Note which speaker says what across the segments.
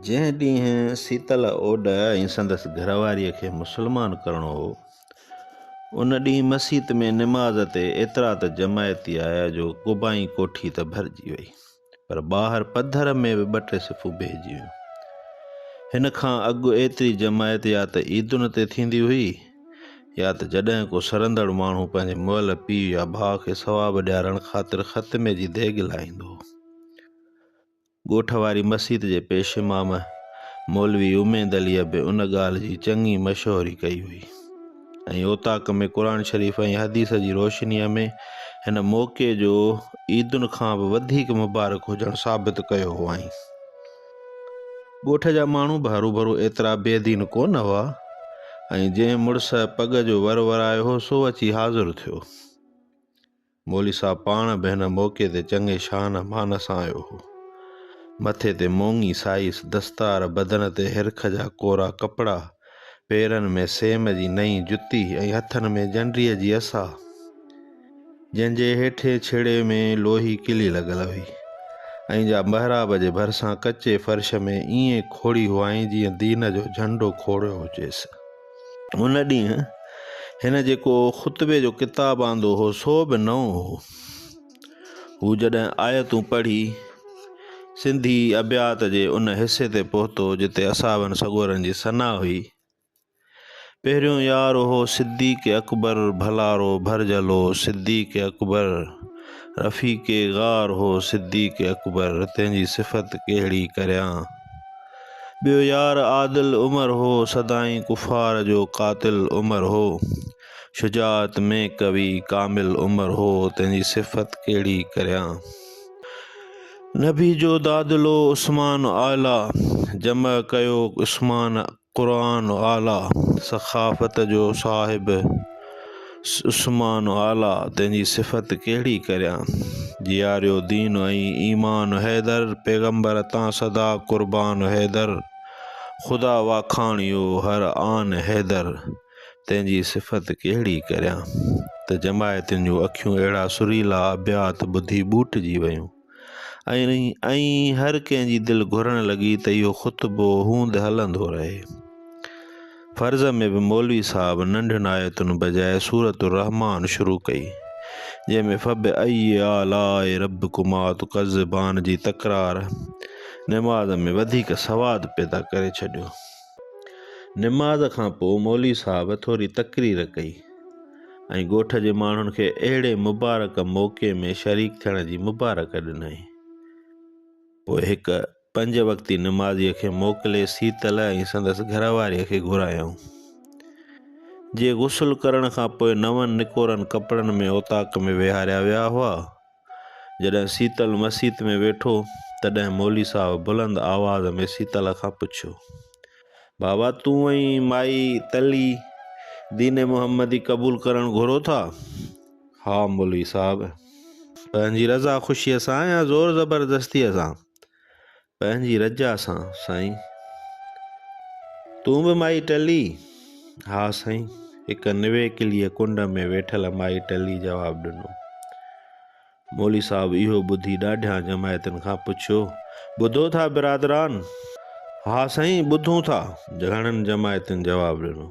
Speaker 1: جنهن ڏينهن سيتل اوڏ ۽ سندس گهر واريء کي مسلمان ڪرڻو هو، ان ڏينهن مسيت ۾ نماز تي ايترا ته جماعتي آيا جو قبائي ڪوٺي ته ڀرجي وئي، پر ٻاهر پڌر ۾ به ٻه ٽي صفون بيهجي ويون. هن کان اڳ ايتري جماعت يا ته عيدن تي ٿيندي هئي، يا ته جڏهن ڪو سرندڙ ماڻهو پنهنجي مئل پيء يا ڀاء کي ثواب ڏيارڻ خاطر ختمي جي ديڳ لاهيندو هو. ڳوٺ واري مسيت جي پيش امام مولوي اميد عليء به ان ڳالهه جي چڱي مشهوري ڪئي هئي ۽ اوطاق ۾ قرآن شريف ۽ حديث جي روشنيء ۾ هن موقعي جو عيدن کان به وڌيڪ مبارڪ هجڻ ثابت ڪيو هئائين. ڳوٺ جا ماڻهو به هروڀرو ايترا بي دين ڪو نه هئا ۽ جنهن مڙس پڳ جو ور ورايو هو سو اچي حاضر ٿيو. مولوي صاحب پاڻ به هن موقعي تي چڱي شان مان سان آيو هو. مٿي تي مونگي سائيس دستار، بدن تي هرک جا ڪورا ڪپڙا، پيرن ۾ سيم جي نئين جتي ۽ هٿن ۾ جنڊيء جي عصا. جنهن جي هيٺئين ڇيڙي ۾ لوهي ڪلي لڳل هئي ۽ جا محراب جي ڀرسان ڪچي فرش ۾ ائين کوڙي هئائين جيئن دين جو جهنڊو کوڙيو هجيس. ان ڏينهن هن جيڪو خطبي جو ڪتاب آندو هو سو به نئون هو. هو جڏهن آيتون پڙهي سنڌي ابيات جي ان حصي تي پهتو جتي اصحابن سڳورن جي ثنا هئي، پهريون يار هو صديق اڪبر ڀلارو ڀرجهلو صديق اڪبر رفيق غار هو صديق اڪبر تنهن جي صفت ڪهڙي ڪريان ٻيو يار عادل عمر هو سدائين ڪفار جو قاتل عمر هو شجاعت ۾ قوي ڪامل عمر هو تنهن جي صفت ڪهڙي ڪريان نبي جو دادلو عثمان اعليٰ جمع ڪيو عثمان قرآن اعليٰ سخاوت جو صاحب عثمان اعليٰ تنهن جي صفت ڪهڙي ڪريان جياريو دين ۽ ايمان حيدر پيغمبر تان سدا قربان حيدر خدا واکاڻيو هر آن حيدر تنهن جي صفت ڪهڙي ڪريان ته جماعتين جون اکيون اهڙا سريلا ابيات ٻڌي ٻوٽجي ويون. ۽ هر ڪنهن جي دل گهرڻ لڳي ته اهو خطبو هوند هلندو رهي. فرض ۾ به مولوي صاحب ننڍين آيتن بجاء سورة الرحمان شروع ڪئي، جنهن ۾ فبأي آلاء ربڪما تڪذبان جي تڪرار نماز ۾ وڌيڪ سواد پيدا ڪري ڇڏيو. نماز کان پوء مولوي صاحب ٿوري تقرير ڪئي. ۽ ڳوٺ جي ماڻهن کي اهڙي مبارڪ موقعي ۾ شريڪ ٿيڻ جي مبارڪ ڏنائين. پوء هڪ پنج وقتي نمازيء کي موڪلي سيتل ۽ سندس گهر واريء کي گهرايائون. جي غسل ڪرڻ کان پوء نون نڪورن ڪپڙن ۾ اوطاق ۾ ويهاريا ويا هئا. جڏهن سيتل مسيت ۾ ويٺو تڏهن مولوي صاحب بلند آواز ۾ سيتل کان پڇيو، بابا تون ۽ مائي تلي دين محمدي قبول ڪرڻ گهرو ٿا؟ ها مولوي صاحب! پنهنجي رضا خوشيء سان يا زور زبردستيء سان؟ پنهنجي رجاء سان سائين. تون به مائي ٽلي؟ ها سائين، هڪ نويڪليء ڪنڊ ۾ ويٺل مائي ٽلي جواب ڏنو. مولوي صاحب اهو ٻڌي ڏاڍيان جماعتن کان پڇيو، ٻڌو ٿا برادران؟ ها سائين، ٻڌون ٿا. گهڻن جماعتن جواب ڏنو.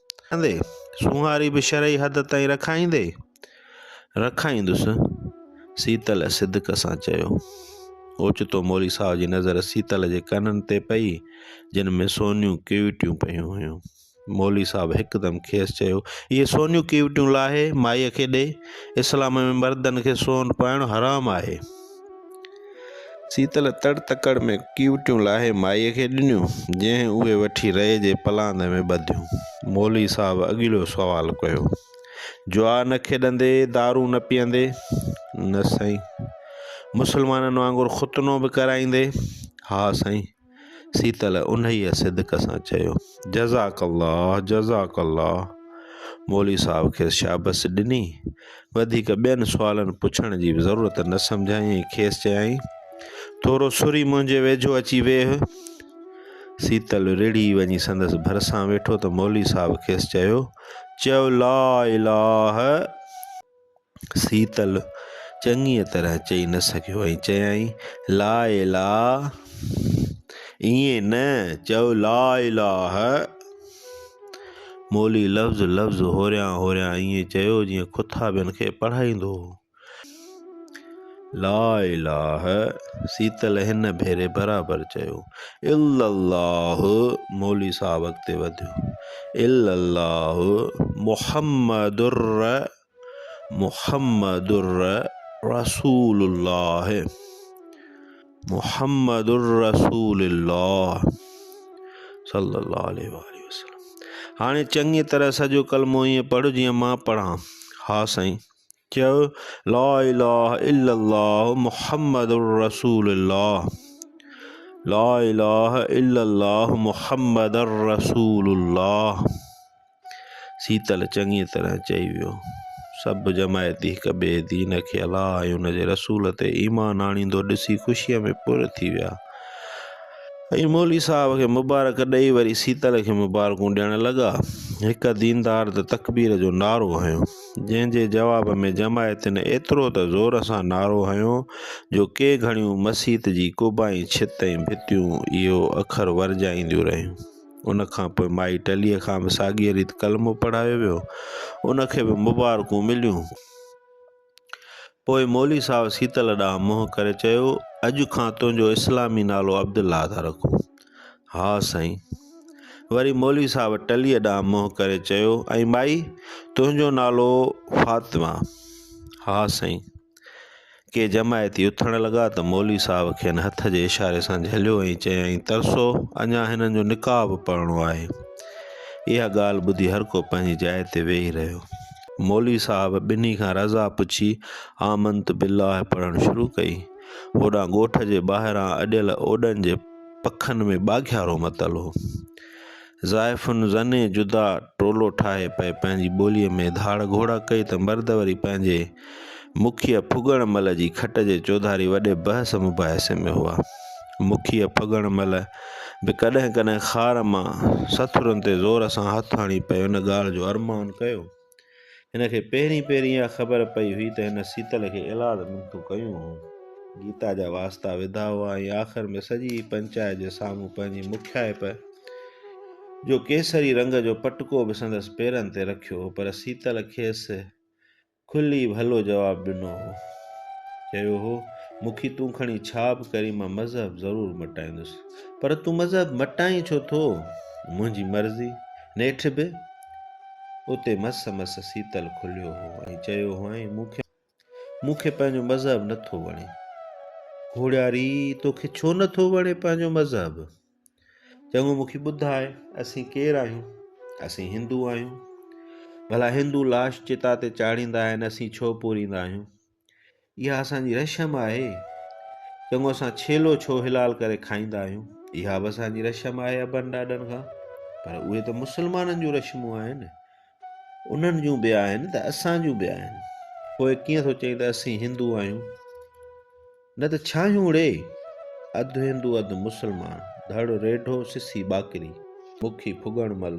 Speaker 1: ڪندي، سونهاري به شرعي حد تائين رکائيندي، رکائيندس. سيتل صدق سان چيو. اوچتو مولوي صاحب جي نظر سيتل جي ڪنن تي پئي، جن ۾ سونيون ڪيوٽيون پيون هيون. مولوي صاحب هڪدم کيس چيو، اهي سونيون ڪيوٽيون لاهي مائيء کي ڏي. اسلام ۾ مردن کي سون پائڻ حرام آهي. سيتل تڙ تڪڙ ۾ ڪيوٽيون لاهي مائيء کي ڏنيون، جنهن اهي وٺي رئي جي پلاند ۾ ٻڌيون. مولوي صاحب اڳليو سوال ڪيو، جوا نه کيڏندي، دارو نه پيئندي؟ نه سائين. مسلمانن وانگر ختنو به ڪرائيندي؟ ها سائين. سيتل انهيء صدق سان چيو، جزاڪ الله جزاڪ الله. مولوي صاحب کيس شابس ڏني. وڌيڪ ٻين سوالن پڇڻ جي به ضرورت نه سمجهيائين ۽ کيس چيائين، ٿورو سري منهنجي ويجهو اچي ويهه. سيتل رڙهي وڃي سندس ڀرسان ويٺو ته مولوي صاحب کيس چيو، چئو لا اله. سيتل چڱيء طرح چئي نه سگهيو ۽ چيائين، لا اله ائين نه، چئو لا اله. مولوي لفظ لفظ هوريان هوريان ائين چيو جيئن کٿابين کي پڙهائيندو هو. لا اله سيتل هن ڀيري برابر چيو. الا الله مولوي صاحب اڳتي وڌيو. الا الله محمدر محمدر رسول الله محمدر رسول الله صلي الله عليه واله وسلم هاڻي چڱي طرح سڄو ڪلمو ائين پڙهه جيئن مان پڙهان. ها سائين. چيو لا اله الا الله محمد رسول الله لا اله الا الله محمد رسول الله سيتل چڱي طرح چئي ويو سڀ جماعتي هڪ ٻئي دين کي الله ۽ ان جي رسول تي ايمان آڻيندو ڏسي خوشيء ۾ پر ٿي ويا ۽ مولوي صاحب کي مبارڪ ڏئي وري سيتل کي مبارڪون ڏيڻ لڳا هڪ ديندار ته تڪبير جو نعرو هنيو جنهن جي جواب ۾ جماعتين ايترو ته زور سان نعرو هنيو جو ڪي گهڙيون مسيت جي ڪوبائين ڇت ۽ ڀتيون اهو اکر ورجائينديون رهيون. ان کان پوء مائي ٽليء کان به ساڳيء ريت ڪلمو پڙهايو ويو. ان کي به مبارڪون مليون. پوء مولوي صاحب سيتل ڏانهن منهن ڪري چيو، اڄ کان تنهنجو اسلامي نالو عبدالله ٿا رکون. ها سائين. وري مولوي صاحب ٽليء ڏانهن منهن ڪري چيو، ۽ مائي، تنهنجو نالو فاطمه؟ ها سائين. ڪي جماعتي اٿڻ لڳا ته مولوي صاحب کين هٿ جي اشاري سان جهليو ۽ چيائين، ترسو، اڃا هنن جو نڪاح به پڙهڻو آهي. اها ڳالهه ٻڌي هر ڪو پنهنجي جاء تي ويهي رهيو. مولوي صاحب ٻنهي کان رضا پڇي آمنت بالله پڙهڻ شروع ڪئي. هوڏانهن ڳوٺ جي ٻاهران اڏيل اوڏن جي پکن ۾ ٻاگهيارو متل هو. زائفن زني جدا ٽولو ٺاهي پئي پنهنجي ٻوليء ۾ ڌاڙ گهوڙا ڪئي ته مرد وري پنهنجي مکيء ڦڳڻ مل جي کٽ جي چوڌاري وڏي بحث مباحثي ۾ هئا. مکيء ڦڳڻ مل به ڪڏهن ڪڏهن خار مان سٿرن تي زور سان هٿ هڻي پئي ان ڳالهه جو ارمان ڪيو. هن کي پهرين پهرين اها خبر پئي هئي ته هن سيتل کي اولاد منٿون ڪيون هون. گيتا جا واسطا وڌا هئا ۽ آخر ۾ سڄي پنچائت جي سامهون پنهنجي مکيائپ جو ڪيسري رنگ جو پٽڪو به سندس پيرن تي رکيو هو پر سيتل کيس کلي ڀلو جواب ڏنو هو. چيو هو، مکي تون کڻي ڇا به ڪرين مان مذهب ضرور مٽائيندس. پر تون مذهب مٽائين ڇو ٿو؟ منهنجي مرضي. نيٺ به اتي مس مس سيتل کليو هو ۽ چيو هئائين، مون کي مون کي پنهنجو مذهب نه ٿو وڻي. گهوڙياري، توکي ڇو نه ٿو وڻي پنهنجو مذهب؟ چڱو مون کي ٻڌاء اسين ڪير آهيون؟ اسين هندو آهيون. ڀلا هندو لاش چتا تي چاڙهيندا آهن اسين ڇو پوريندا آهيون؟ اها اسان جي رشم آهي. چڱو اسان ڇيلو ڇو حلال ڪري کائيندا آهيون؟ اها به اسان جي رشم آهي ابن ڏاڏن کان. پر اهي ته مسلمانن جون رشمون آهن. انهن جون به آهن ته اسان جون به آهن. پوء ڪيئن ٿو چئين ته اسين هندو آهيون؟ نه ته ڇا آهيون اڙي؟ اڌ هندو اڌ مسلمان، ڌڙ ريڍو سسي ٻاڪري. مکي ڦڳڻ مهل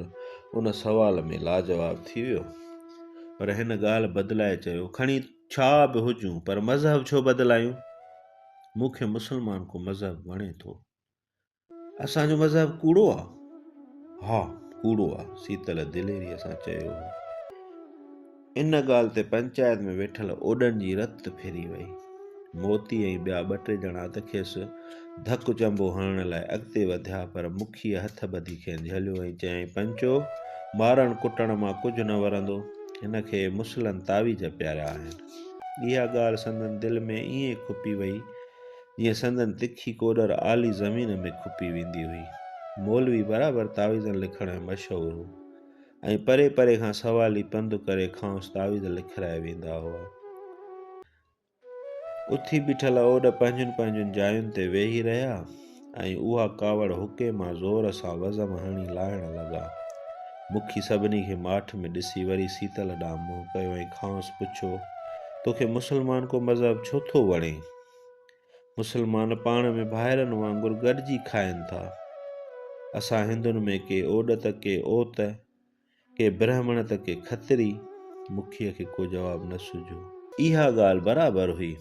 Speaker 1: ان سوال ۾ لاجواب ٿي ويو. پر هن ڳالهه بدلائي چيو، کڻي ڇا به هجون پر مذهب ڇو بدلايون؟ مون کي مسلمان ڪو مذهب وڻي ٿو. اسان جو مذهب ڪوڙو آ؟ ها ڪوڙو آ، سيتل دليريء سان چيو هو. ان ڳالهه تي پنچائت ۾ ويٺل اوڏن جي رت ڦري وئي. موتي ۽ ٻيا ٻه ٽي ڄڻا ته کيس ڌڪ چنبو هڻڻ لاء اڳتي وڌيا پر مکيء هٿ ٻڌي کين جهليو ۽ چيائين، پنچو، مارڻ ڪٽڻ مان ڪجهه نه ورندو. هن کي مسلن تعويذ پياريا آهن. اها ڳالهه سندن دل ۾ ائين کپي ويئي، جيئن سندن تکي ڪوڏر آلي زمين ۾ کپي ويندي هئي. مولوي برابر تعويذن لکڻ ۾ مشهور هو ۽ پري پري کان سوالي پنڌ ڪري کانئس تعويذ لکرائي ويندا هئا. اٿي بيٺل اوڏ پنهنجين پنهنجين جاين تي ويهي رهيا ۽ اها ڪاوڙ حڪي مان زور سان وزم هڻي لاهڻ لڳا. مکي سڀني کي ماٺ ۾ ڏسي وري سيتل ڏانهن منهن ڪيو ۽ کانئس پڇيو، توکي مسلمان ڪو مذهب ڇو ٿو وڻي؟ مسلمان پاڻ ۾ ڀائرن وانگر گڏجي کائن ٿا. اسان هندن ۾ ڪي اوڏ ته ڪي اوت. ڪي برهمڻ ته ڪي کتري، مکيء کي ڪو جواب نه سجهيو. اها ڳالهه برابر هئي.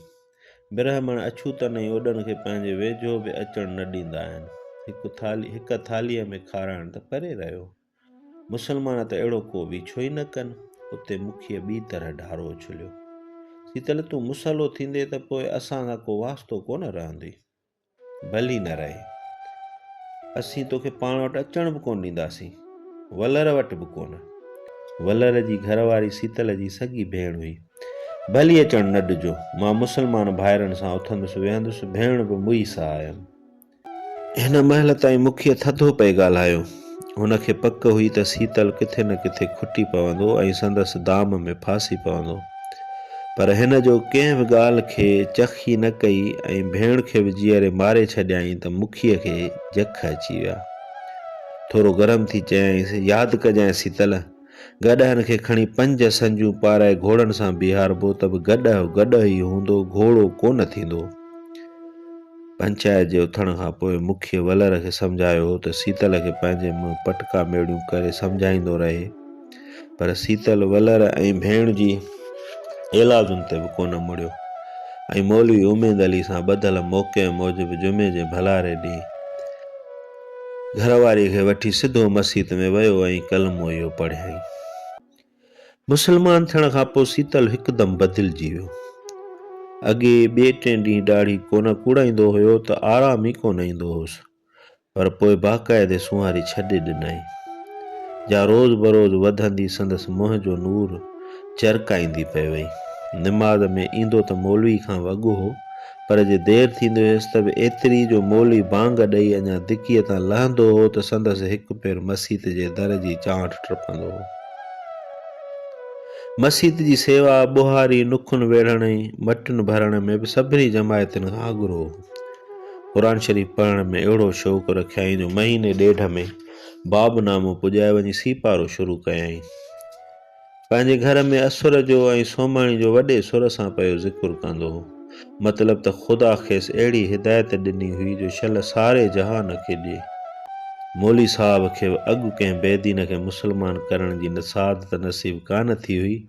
Speaker 1: برهمڻ اڇوتن ۽ اوڏن کي پنهنجي ويجهو به اچڻ نه ڏيندا آهن. هڪ ٿالهي هڪ ٿالهيء ۾ کارائڻ ته پري رهيو. مسلمان ته اهڙو ڪو ويڇو ئي نه ڪن. اتي مکيء ٻي طرح ڍارو اڇليو. سيتل تون مسئلو ٿيندين ته پوء اسان سان ڪو واسطو ڪونه رهندي. ڀلي نه رهي. اسين توکي پاڻ وٽ اچڻ به ڪونه ڏينداسين. ولر وٽ به ڪونه. ولر جي گهر واري سيتل جي سڳي ڀيڻ هئي. ڀلي اچڻ نه ڏجو. مان مسلمان ڀائرن سان اٿندس ويهندس. ڀيڻ به مئي ساهه هيم. هن مهل تائين مکيه ٿڌو پئي ڳالهايو. هن کي پڪ هئي ته سيتل ڪٿي نه ڪٿي کٽي پوندو ۽ سندس دام ۾ ڦاسي پوندو. پر هن جو ڪنهن به ڳالهه کي چخ ئي نه ڪئي ۽ ڀيڻ کي به جيئري ماري ڇڏيائين ته مکيء کي جک اچي ويا. ٿورو گرم ٿي چيائينس، ياد ڪجانء سيتل! گڏهن کي کڻي پنج سنجون پارائي گهوڙن سان بيهاربو ته به گڏهه گڏهه ئي هوندو، گهوڙو ڪو نه ٿيندو. پنچائت جي اٿڻ کان پوء مکيه ولر کي سمجهايو هو ته سيتل کي پنهنجي منهن پٽڪا ميڙيون ڪري سمجهائيندو رهي، پر سيتل ولر ۽ ڀيڻ جي ايلادن تي به ڪو نه مڙيو ۽ مولوي اميد علي سان ٻڌل موقعي موجب جمعي جي ڀلاري ڏينهن، گهر واري کي وٺي سڌو مسيت ۾ ويو ۽ ڪلمو اهو پڙهيائين. مسلمان ٿيڻ کان پوء سيتل هڪدم بدلجي ويو. اڳي ٻئي ٽئين ڏينهن ڏاڙهي ڪونه ڪوڙائيندو هيو ته آرام ئي ڪونه ايندو هوس، پر پوء باقاعدي سونهاري ڇڏي ڏنائين. جا روز بروز وڌندي سندس منهن جو نور چرڪائيندي پئي وئي. نماز ۾ ايندو ته مولوي کان وڳو هو، پر جي دير ٿيندي هيس ته به ايتري جو مولوي بانگ ڏئي اڃا دڪيء تان لهندو هو ته سندس هڪ پير مسيت جي در جي چانٺ ٽپندو هو. مسيت جي سيوا، ٻهاري، نکن ويڙهڻ ۽ مٽين ڀرڻ ۾ به سڀني جماعتن کان اڳرو هو. قرآن شريف پڙهڻ ۾ اهڙو شوق رکيائين جو مهيني ڏيڍ ۾ باب نامو پڄائي وڃي سيپارو شروع ڪيائين. پنهنجي گهر ۾ اسر جو ۽ سومهڻي جو وڏي سر سان پيو ذڪر ڪندو هو. مطلب ته خدا کيس اهڙي هدايت ڏني هئي جو شل ساري جهان کي ڏئي. مولي صاحب کي به اڳ ڪنهن بيدين کي مسلمان ڪرڻ جي سعادت نصيب ڪانه ٿي هئي،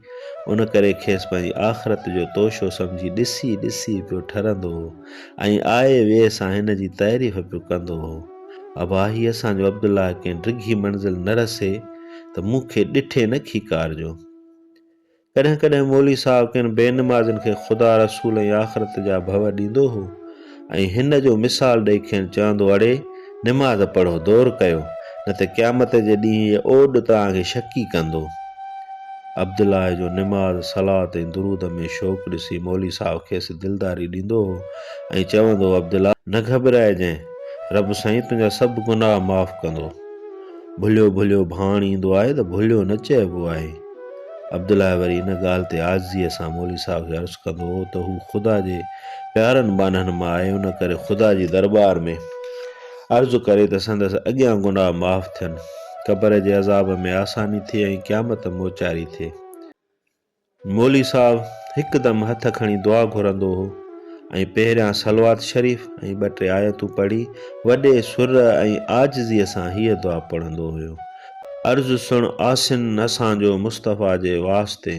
Speaker 1: ان ڪري کيس پنهنجي آخرت جو توشو سمجهي ڏسي ڏسي پيو ٺرندو هو ۽ آئي ويهه سان هن جي تعريف پيو ڪندو هو. ابا هي اسان جو عبدالله ڪنهن ڊگهي منزل نه رسي ته مون کي ڏٺي نه کيڪارجو. ڪڏهن ڪڏهن مولوي صاحب ڪن بي نمازين کي خدا رسول ۽ آخرت جا ڀو ڏيندو هو ۽ هن جو مثال ڏئي کين چوندو اڙي نماز پڙهو دور ڪيو نه ته قيامت جي ڏينهن هيء اوڏ توهان کي شڪي ڪندو. عبدالله جو نماز، صلات ۽ درود ۾ شوق ڏسي مولوي صاحب کيس دلداري ڏيندو هو ۽ چوندو هو عبدالله! نه گهٻرائجانء. رب سائين تنهنجا سڀ گناهه معاف ڪندو. ڀليو ڀليو ڀاڻ ايندو آهي ته ڀليو نه چئبو آهي. عبدالله وري ان ڳالهه تي عاجزيء سان مولوي صاحب کي عرض ڪندو هو ته هو خدا جي پيارن ٻانهن مان آهي ان ڪري خدا جي درٻار ۾ عرض ڪري ته سندس اڳيان گناهه معاف ٿين، قبر جي عذاب ۾ آساني ٿئي ۽ قيامت موچاري ٿئي. مولوي صاحب هڪدم هٿ کڻي دعا گهرندو هو ۽ پهريان صلوات شريف ۽ ٻه ٽي آيتون پڙهي وڏي سر ۽ عاجزيء سان هيء دعا پڙهندو هيو، عرض سڻ آسن اسان جو مصطفيٰ جي واسطي،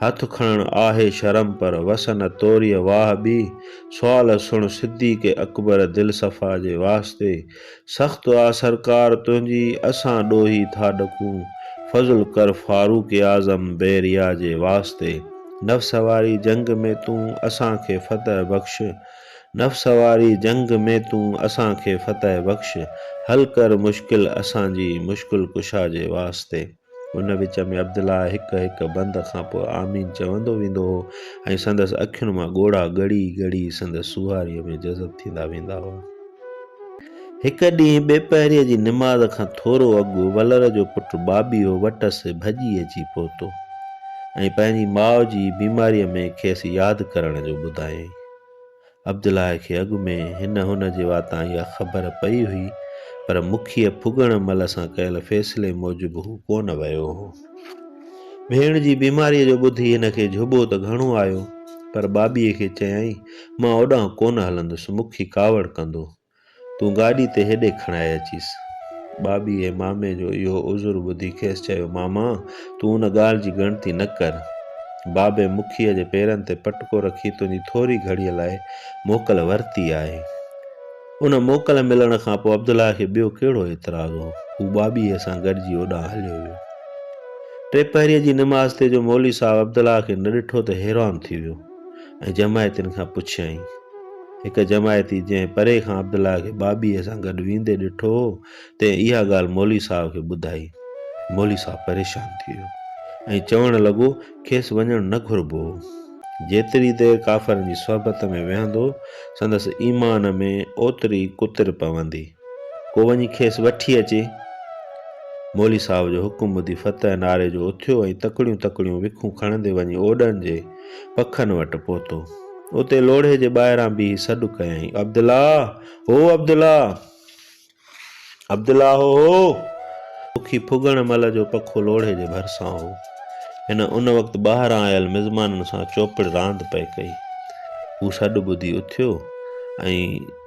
Speaker 1: هٿ کڻڻ آهي شرم پر وس نه توريء واهه ٻي، سوال سڻ صديق اڪبر دلصفا جي واسطي، سخت آ سرڪار تنهنجي اسان ڏوهي ٿا ڏڪون فضل ڪر فاروق اعظم بحريا جي واسطي نفس واري جنگ ۾ تون اسان کي فتح بخش نفس واري جنگ ۾ تون اسان کي فتح بخش حل ڪر مشڪل اسان جي مشڪل ڪشا جي واسطي. ان وچ ۾ عبدالله هڪ هڪ بند کان پوء آمين چوندو ويندو هو ۽ سندس اکين مان ڳوڙها ڳڙي ڳڙي سندس سوهاريء ۾ جذب ٿيندا ويندا هئا. هڪ ڏينهن ٻي پهريء جي نماز کان ٿورو اڳ ولر جو پٽ بابي هو وٽس ڀڄي اچي پهتو ۽ پنهنجي ماء جي بيماريء ۾ کيس ياد ڪرڻ جو ٻڌايائين. عبدالله کي اڳ ۾ هن هن جي واتان اها خبر پئي هئي، پر مکيء ڦڳڻ مل سان ڪيل فيصلي موجب هو ڪونه ويو هو. ڀيڻ جي بيماريء جو ٻڌي هن کي جهٻو ته گهڻو آيو، پر ٻاٻيء کي چيائين، مان اوڏانهن ڪونه هلندس، مکي ڪاوڙ ڪندو. تون گاڏي تي هيڏي کڻائي اچيس. ٻاٻيء مامي جو اهو عذر ٻڌي کيس چيو، ماما، تون ان ڳالهه جي ڳڻتي نه ڪر. بابي مکيء جي پيرن تي پٽڪو رکي تنهنجي ٿوري گهڙيء لاء موڪل ورتي آهي. ان موڪل ملڻ کان پوء عبدالله کي ٻيو ڪهڙو اعتراض هو؟ هو ٻاٻيء سان گڏجي اوڏانهن هليو ويو. ٽي پهريء جي نماز تي جو مولوي صاحب عبدالله کي نه ڏٺو ته حيران ٿي ويو. ۽ جماعتين کان پڇيائين. هڪ جماعتي جنهن پري کان عبدالله کي بابيء سان گڏ ويندي ڏٺو هو، تنهن اها ڳالهه مولوي صاحب کي ٻڌائي. مولوي صاحب پريشان ٿي ويو ۽ چوڻ لڳو، کيس وڃڻ نه گهربو هو. جيتري دير ڪافرن جي صحبت ۾ ويهندو، سندس ايمان ۾ اوتري ئي ڪتر پوندي. ڪو وڃي کيس وٺي اچي. مولوي صاحب جو حڪم ٻڌي فتح نعري جو اٿيو ۽ تڪڙيون تڪڙيون وکون کڻندي وڃي اوڏن جي پکن وٽ پهتو. اتي لوڙهي جي ٻاهران بيهي سڏ ڪيائين، عبدالله! هو عبدالله! عبدالله هو هو! پکي ڦڳڻ مل جو پکو لوڙهي جي ڀرسان هو. هن ان وقت ٻاهران آيل مزمانن سان چوپڙ راند پئي ڪئي. هو سڏ ٻڌي اٿيو ۽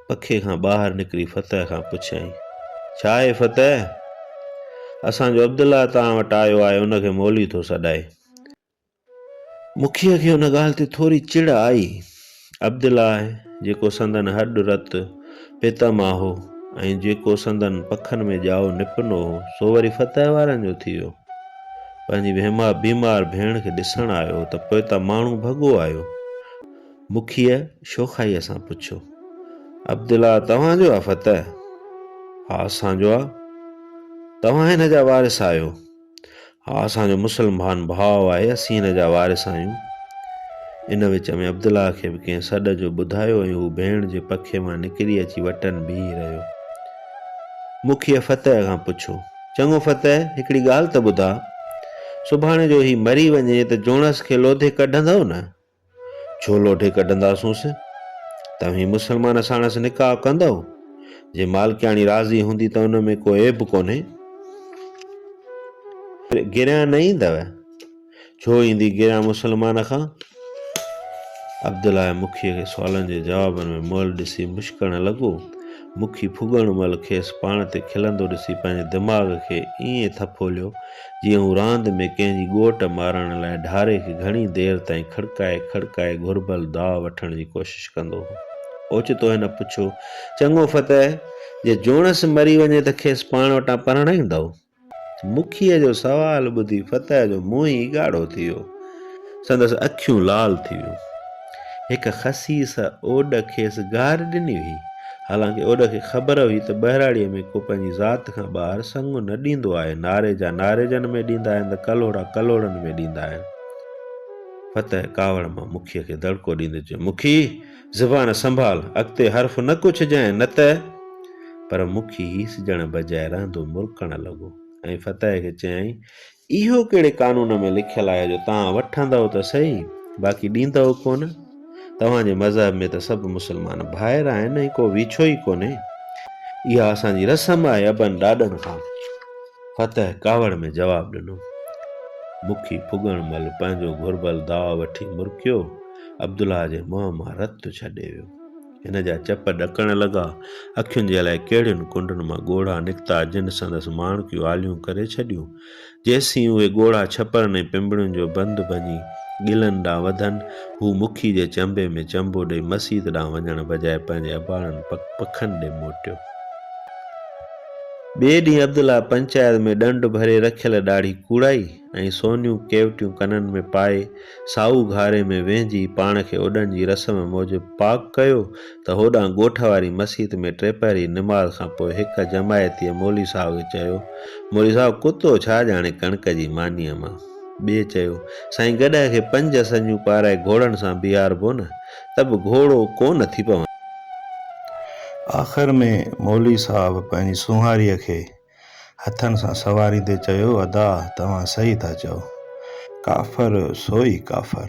Speaker 1: پکي کان ٻاهر نڪري فتح کان پڇيائين، ڇا اي فتح! اسان جو عبدالله توهان وٽ آيو آهي، ان کي مولوي ٿو سڏائي. مکيه کي ان ڳالهه تي ٿوري چڙ آئي. عبدالله جيڪو سندن هڏ رت پيتا مان هو ۽ جيڪو سندن پکن ۾ ڄائو نپنو هو، سو وري فتح وارن جو ٿي ويو. پنهنجي بيمار ڀيڻ کي ڏسڻ آيو ته پوئتا ماڻهو ڀڳو آيو. مکيه شوخائيء سان پڇيو. عبدالله توهان جو آ فتح؟ ها اسان جو آ. توهان هن جا وارث آهيو؟ ها اسان جو مسلمھان ڀاء آهي اسين هن جا وارث آهيون. ان وچ ۾ عبدالله کي به ڪنهن سڏ جو ٻڌايو ۽ هو ڀيڻ جي پکي مان نڪري اچي وٽن بيهي رهيو. مکيه فتح کان پڇيو. چڱو فتح هڪڙي ڳالهه ته ٻڌاء. سڀاڻي جو هي مري وڃي ته جوڻس کي لوڌي ڪڍندؤ نه؟ ڇو لوڍي ڪڍنداسونس؟ توهين مسلمان ساڻس نڪاح ڪندؤ؟ جي مالڪياڻي راضي هوندي ته ان ۾ ڪو عيب ڪونهي. گريان نه ايندؤ؟ ڇو ايندي گريان مسلمان کان؟ عبدالله مکيء کي سوالن جي جوابن ۾ مئل ڏسي مشڪڻ لڳو. مکي ڦڳڻ مهل کيس پاڻ تي کلندو ڏسي پنهنجي دماغ کي ائين ٿڦوليو، جيئن هو راند ۾ ڪنهن جي ڳوٽ مارڻ لاء ڍاري کي گهڻي دير تائين کڙڪائي کڙڪائي گهربل داء وٺڻ جي ڪوشش ڪندو هو. اوچتو هن پڇيو، چڱو فتح! جي جوڻس مري وڃي ته کيس پاڻ وٽان پرڻائيندؤ؟ مکيه جو سوال ٻڌي فتح جو منهن ئي ڳاڙهو ٿي ويو. سندس اکيون لال ٿي ويون. هڪ خسيس اوڏ کيس گار ڏني هئي. حالانڪه اوڏ کي خبر هئي ته ٻهراڙيء ۾ ڪو پنهنجي ذات کان ٻاهر سڱ نه ڏيندو آهي، ناريجا ناريجن ۾ ڏيندا آهن ته ڪلهوڙا ڪلهوڙن ۾ ڏيندا آهن. فتح ڪاوڙ مان مکيه کي دڙڪو ڏيندي چيو، مکي! زبان سنڀال، اڳتي حرف نه ڪو ڇجانء نه ته. پر مکي هيس ڄڻ بجاء رهندو مرڪڻ لڳو ۽ فتح کي چيائين، اهو ڪهڙي قانون ۾ لکيل آهي جو توهان وٺندؤ ته سهي باقي ڏيندؤ ڪونه؟ توهان جي مذهب ۾ ته سڀ مسلمان ڀائر آهن ۽ ڪو ويڇو ئي ڪونهي. اها اسان جي رسم آهي ابن ڏاڏن کان. فتح ڪاوڙ ۾ جواب ڏنو. مکي ڦڳڻ مھل پنھنجو گھربل داء وٺي مرڪيو. عبدالله جي منھن مان رت ڇڏي ويو. ھن جا چپ ڏڪڻ لڳا. اکين جي الائي ڪھڙين ڪنڊن مان ڳوڙھا نڪتا جن سندس ماڻڪيون آليون ڪري ڇڏيون. جيسين اھي ڳوڙھا ڇپرن ۽ پنبڻين جو بند ڀڃي ڳلن ڏانھن وڌن، ھو مکي جي چنبي ۾ چنبو ڏئي مسيت ڏانھن وڃڻ بجاء پنھنجي اباڻن پکن ڏي موٽيو. ٻئي ڏينهن عبدالله پنچائت ۾ ڏنڊ ڀري رکيل ڏاڙهي ڪوڙائي ۽ سونيون ڪيوٽيون ڪنن ۾ پائي سائو گهاري ۾ ويهنجي پاڻ کي اوڏڻ جي رسم موجب پاڪ ڪيو ته هوڏانهن ڳوٺ واري مسيت ۾ ٽيپهري نماز کان پوء هڪ جماعتيء مولوي صاحب کي چيو مولوي صاحب ڪتو ڇا ڄاڻي ڪڻڪ جي مانيء مان؟ ٻئي چيو سائين گڏهه کي پنج سڃون پارائي گهوڙن سان بيهاربو نه؟ ته به گهوڙو ڪو نه ٿي پوندو. آخر ۾ مولوي صاحب پنهنجي سونهاريء کي هٿن سان سواريندي چيو، ادا توهان صحيح ٿا چئو، ڪافر سوئي ڪافر.